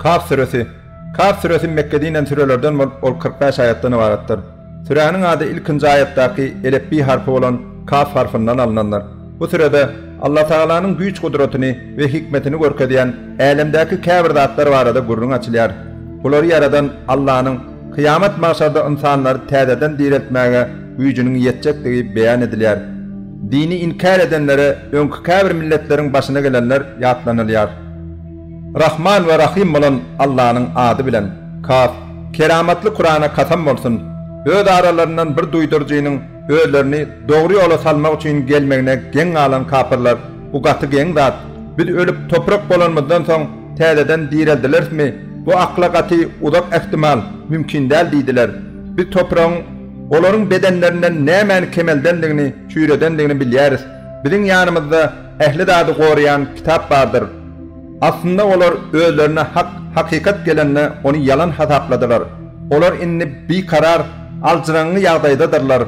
Kaf süresi. Kaf süresi Mekge dinen sürelerden bolup, ol kyrk bäş aýatdan ybaratdyr. Süräniň ady ilkinji aýatdaky elepbiý harpy bolan Kaf harpyndan alnandyr. Bu sürede Allatagalanyň güýç-gudratyny we hikmetini görkezýän älemdäki käbir zatlar barada gürrüň açylýar. Bulary ýaradan Allanyň kyýamat-magşarda ynsanlary täzeden direltmäge güýjüniň ýetjekdigi beýan edilýär. Dini inkär edenlere öňki käbir milletleriň başyna gelenler ýatlanylýar. Rahman we Rahym bolan Allanyň ady bilen, Kaf, keramatly Kurana kasam bolsun, öz aralaryndan bir duýduryjynyň özlerini dogry ýola salmak üçin gelmegine geň galan kapyrlar, bu gaty geň zat, biz ölüp toprak bolanymyzdan soň täzeden direldilerismi, bu akla gaty uzak ähtimal, mümkin däl diýdiler. Biz topragyň. Olaryň bedenlerinden nämäni kemeldendigini, çüýredendigini bilýäris. Biziň ýanymyzda ähli zady goraýan kitap bardyr. Aslynda olar özlerine hak, hakykat gelende ony ýalan hasapladylar. Olar indi bikarar, aljyraňňy ýagdaýdadyrlar.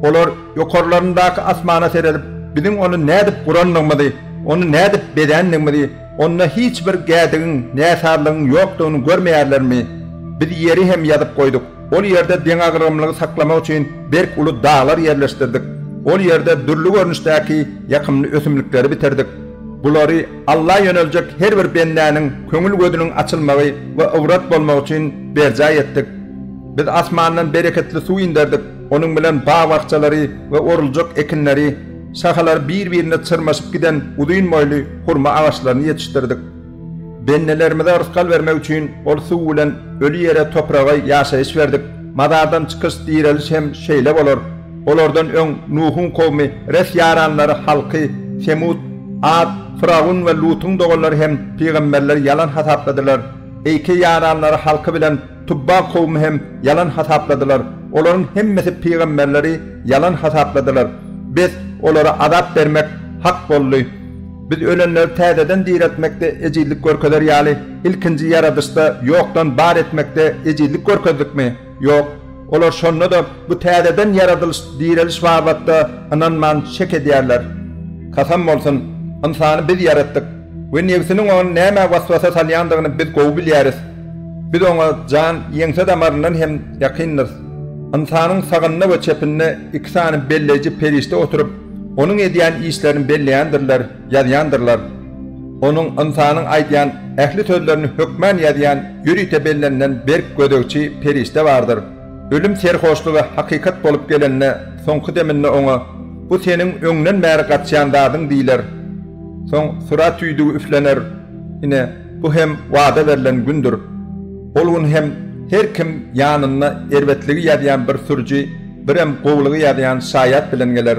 Olar ýokarlaryndaky asmana seredip, biziň ony nädip gurandygymyzy, ony nädip bezändigimizi, onda hiç bir gädigiň, näsazlygyň ýokdugyny görmeýärlermi? Biz ýeri hem ýazyp goýduk. Ol ýerde deňagramlygy saklamak üçin berk uly daglar ýerleşdirdik. Ol ýerde dürli görnüşdäki ýakymly ösümlikleri bitirdik. Bulary Alla ýöneljek her bir bendäniň köňül gözüniň açylmagy we ybrat bolmagy üçin berjaý etdik. Biz asmandan bereketli suw inderdik, onuň bilen bag-bakjalary we oruljak ekinleri, şahalary bir-birine çyrmaşyp giden uzyn boýly hurma agaçlaryny ýetişdirdik. Bendelerimize rysgal bermek üçin ol suw bilen öli ýere topraga ýaşaýyş berdik. Mazardan çykyş, direliş hem şeýle bolar. Olardan öň Nuhuň kowmy, Reh ýaranlary, halky, Semut, At, Fyragun we Lutuň doganlary hem pygamberleri ýalan hasapladylar. Eýke ýaranlary halky bilen Tubba kowmy hem ýalan hasapladylar, olaryň hemmesi pygamberleri ýalan hasapladylar. Biz olara azap bermek hak boldy. Biz ölenleri täzeden direltmekde ejizlik görkezer ýaly, ilkinji ýaradyşda ýokdan bar etmekde ejizlik görkezdikmi? Ýok. Olar şonda-da bu täzeden ýaradylyş, direliş babatda ynanman şek edýärler. Kasam bolsun! Ynsany biz ýaratdyk. We nebsiniň ony nämä waswasa salýandygyny biz gowy bilýäris. Biz oňa jan ýeňse damaryndan hem ýakyndyrys. Ynsanyň sagynda we çepinde iki sany belleýji perişde oturyp, onuň edýän işlerini belleýändirler, ýazýandyrlar. Onuň, ynsanyň aýdýan ähli sözlerini hökmän ýazýan ýörite bellenilen berk gözegçi perişde bardyr. Ölüm serhoşlygy hakykat bolup gelende, soňky deminde oňa, Bu seniň öňden bäri gaçýan zadyň diýler. Soň surat tüýdügi üflener, ine, bu hem wada berlen gündür. Ol gün hem her kim ýanynda erbetligi ýazýan bir sürüji, birem gowulygy ýazýan şaýat bilen geler.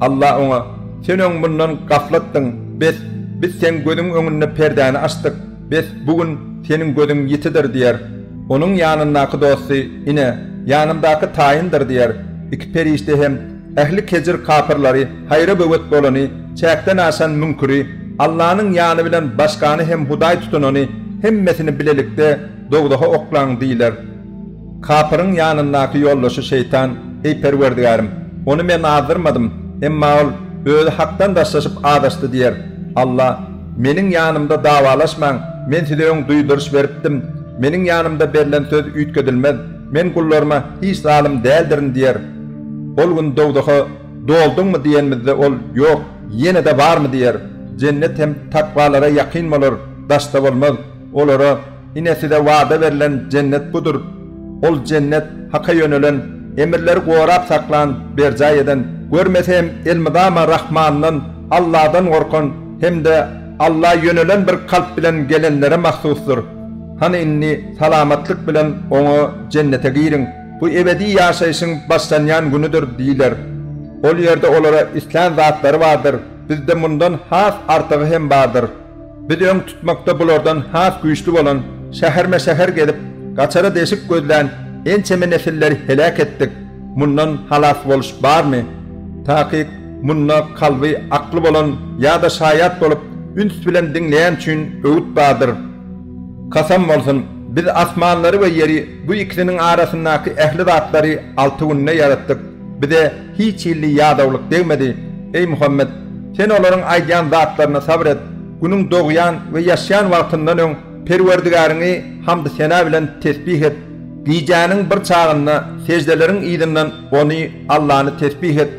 Alla oňa, Sen öň mundan gaflatdyň, bes, biz seň gözüň öňünde perdäni açdyk, bes, bu gün seniň gözüň ýitidir diýer. Onuň ýanyndaky dosty, Ine, ýanymdaky taýyndyr diýer. Iki perişde hem, Ähli kejir kapyrlary, haýra böwet bolany, çäkden aşan müňküri, Allanyň ýany bilen başgany hem hudaý tutunany, hemmesini bilelikde dowzaha oklaň diýler. Kapyryň ýanyndaky ýoldaşy şeýtan, Eý Perwerdigärim! Ony men azdyrmadym, emma ol özi Hakdan daşlaşyp azaşdy diýer. Alla, Meniň ýanymda dawalaşmaň, men size öň duýduryş beripdim. Meniň ýanymda berlen söz üýtgedilmez. Men gullaryma hiç zalym däldirin diýer. Ol gün dowzaha Dolduňmy diýenimizde ol Ýok, ýene-de barmy diýer. Jennet hem takwalara ýakyn bolar, daşda bolmaz. Olara, Ine size wada berlen Jennet budur. Ol Jennet, Haka ýönelen, emirleri gorap saklan, berjaý eden, görmeseem elmydama Rahmandan, Alladan gorkan hem-de Alla ýönelen bir kalp bilen gelenlere mahsusdyr. Hany indi salamatlyk bilen oňa Jennete giriň. Bu ebedi ýaşaýşyň başlanýan günüdir diýler. Ol ýerde olara islän zatlary bardyr, bizde mundan has artygy hem bardyr. Biz öň tutmakda bulardan has güýçli bolan, şäherme-şäher gezip, gaçara deşik gözlän ençeme nesilleri heläk etdik, mundan halas boluş barmy? Takyk, munda kalby, akly bolan ýa-da şaýat bolup, üns bilen diňleýän üçin öwüt bardyr. Kasam bolsun, biz asmanlary we ýeri, bu ikisiniň arasyndaky ähli zatlary alty günde ýaratdyk. Bize hiç hilli ýadawlyk degmedi. Eý Muhammet! Sen olaryň aýdýan zatlaryna sabyr et. Günüň dogýan we ýaşýan wagtyndan öň Perwerdigäriňi hamdy-sena bilen tesbih et. Gijäniň bir çagynda seždeleriň yzyndan Ony, Allany, tesbih et.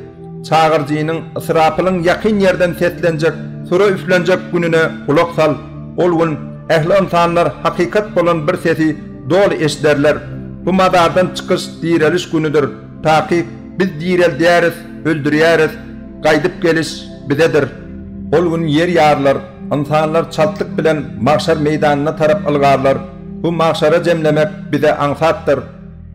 Çagyryjynyň Ysrapylyň ýakyn ýerden seslenjek, sura üflenjek gününe gulak sal. Ol gün ähli ynsanlar hakykat bolan bir sesi doly eşiderler. Bu mazardan çykyş, direliş günüdir. Takyk, biz direldýäris, öldürýäris, gaýdyp geliş bizedir. Ol gün ýer ýarylar, ynsanlar çaltlyk bilen magşar meýdanyna tarap ylgarlar. Bu magşara jemlemek bize aňsatdyr.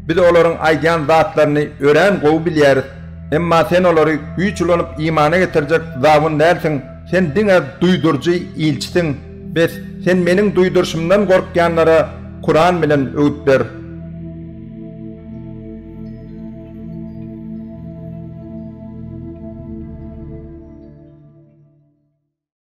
Biz olaryň aýdýan zatlaryny örän gowy bilýäris. Emma sen olary güýç ulanyp imana getirjek zabun dälsiň, sen diňe duýduryjy ilçisiň. Bes, sen meniň duýduryşymdan gorkýanlara Kuran bilen öwüt ber.